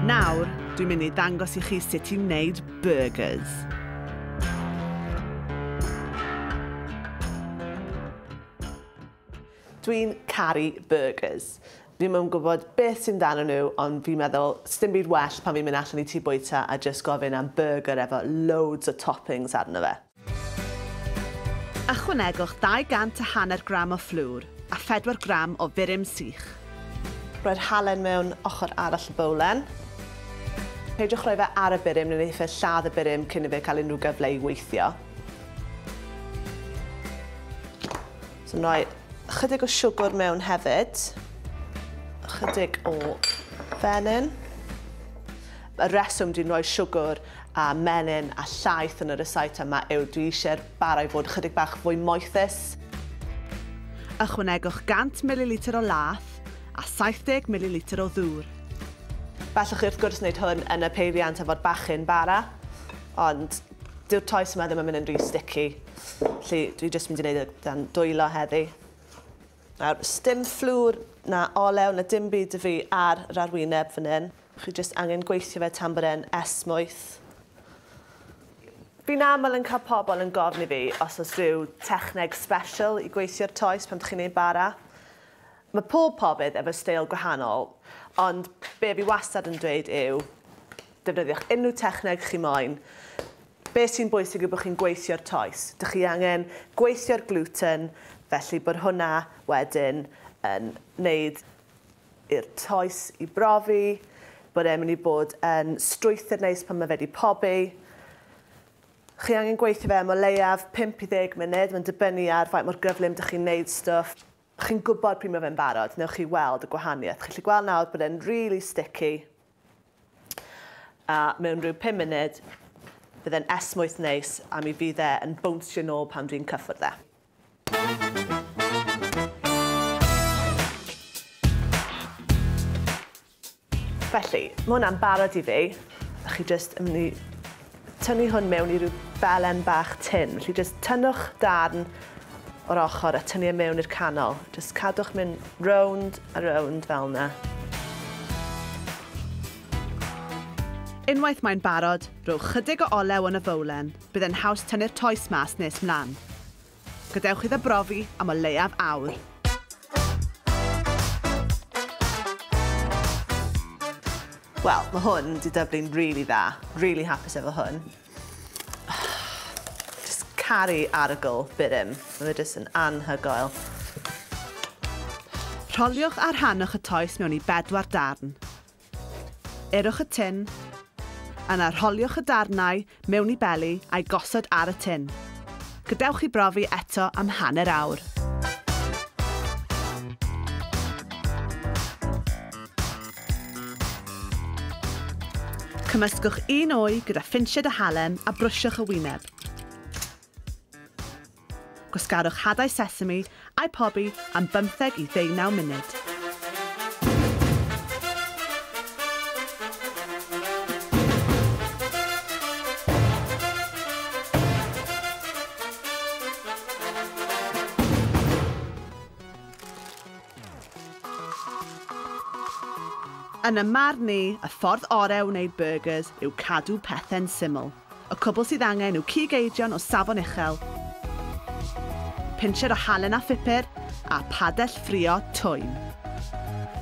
Nawr, dwi'n mynd i ddangos i chi sut i wneud burgers. Dwi'n caru burgers. Fi'n yn gwybod beth sy'n dan nhw, ond fi'n meddwl, sdim byd well pan fi'n mynd allan i tŷ bwyta a just gofyn am burger efo loads o toppings arno fe. Ychwanegwch 200 a hanner gram o fflwr a 4 gram o furum sych. Rhoi'r halen mewn ochr arall y bowlen. Peidiwch rhoi fe ar y burum neu wneith fe lladd y burum cyn i fe cael unrhyw gyfle i weithio. So yn rhoi ychydig o siwgr mewn hefyd. Ychydig o fenyn. Y reswm dwi'n rhoi siwgr a menyn a llaeth yn y rysáit yma yw dwi eisiau'r bara i fod ychydig bach fwy moethus. Ychwanegwch 100 mililitr o laeth a 70 mililitr o ddŵr. Gallwch chi wrth gwrs wneud hwn yn y peiriant efo'r bachyn bara, ond dyw'r toes yma ddim yn mynd yn rhy sticky, felly dwi jyst mynd i wneud e dan dwylo heddi. Nawr, sdim fflwr na olew na dim byd y fi ar yr arwyneb fan hyn. Chi jyst angen gweithio fe tan bod e'n esmwyth. Fi'n aml yn cael pobl yn gofyn i fi os oes rhyw techneg sbesial i gweithio'r toes pan chi'n ei bara. Mae pob pobyd efo steil gwahanol, ond be fi wastad yn dweud yw defnyddiwch unrhyw techneg chi moyn. Be sy'n bwysig yw bod chi'n gweithio'r toes. Dych chi angen gweithio'r gluten, felly bod hwnna wedyn yn wneud i'r toes i brofi bod e'n mynd i bod yn strwythur neis pan mae fe 'di pobi. Chi angen gweithio fe am o leiaf 5 i 10 munud, mae'n dibynnu ar faint mor gyflym dych chi'n wneud stwff. Chi'n gwybod pryd mae fe'n barod, newch chi weld y gwahaniaeth. Chi'n gallu gweld nawr bod e'n rili stici a mewn rhyw 5 munud bydd e'n esmwyth neis a mi fydd e yn bownsio nôl pan dwi'n cyffwrdd e. Felly, mae hwnna'n barod i fi. A chi jyst yn mynd i tynnu hwn mewn i rhyw belen bach tin. Felly jyst tynnwch darn o'r ochr a tynnu e mewn i'r canol. Jyst cadwch mynd rownd a rownd fel yna. Unwaith mae'n barod, rhowch chydig o olew yn y fowlen. bydd e'n haws tynnu'r toes mas nes mlaen. Gadewch iddo brofi am o leiaf awr. Wel, mae hwn wedi dyblu'n really dda. Really hapus efo hwn. Just caru arogl byrym. Mae fe jyst yn anhygoel. Rholiwch a rhanwch y toes mewn i bedwar darn. Urwch y tin. Yna rholiwch y darnau mewn i beli a'i gosod ar y tin. Gadewch i brofi eto am hanner awr. Cymysgwch un wy gyda phinsied a halen a brwsiwch y wyneb. Gwasgarwch hadau sesame a'u pobi am bymtheg i ddeunaw munud. Yn y marn ni, y ffordd orau o wneud byrgyrs yw cadw pethau'n syml. Y cwbl sydd angen yw cig eidion o safon uchel, pincher o halen a phupur, a phadell ffrio twym.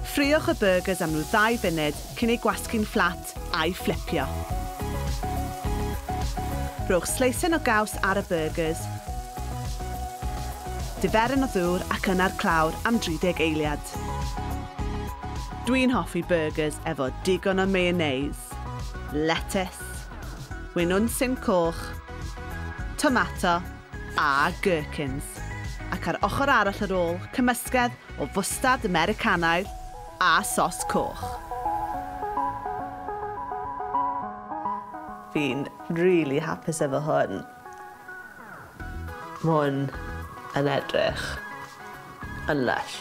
Ffriwch y byrgers am rhyw ddau funud cyn eu gwasgu'n fflat a'u fflipio. Rhowch sleisen o gaws ar y byrgers, diferyn o ddŵr ac yna'r clawr am 30 eiliad. Dwi'n hoffi byrgers efo digon o mayonnaise, letys, Winwn sim coch, tomato a gherkins ac ar ochr arall yr ôl cymysgedd o fwstard Americanaidd a sos coch. Fi'n rili hapus efo hwn. Ma' hwn yn edrych yn lysh.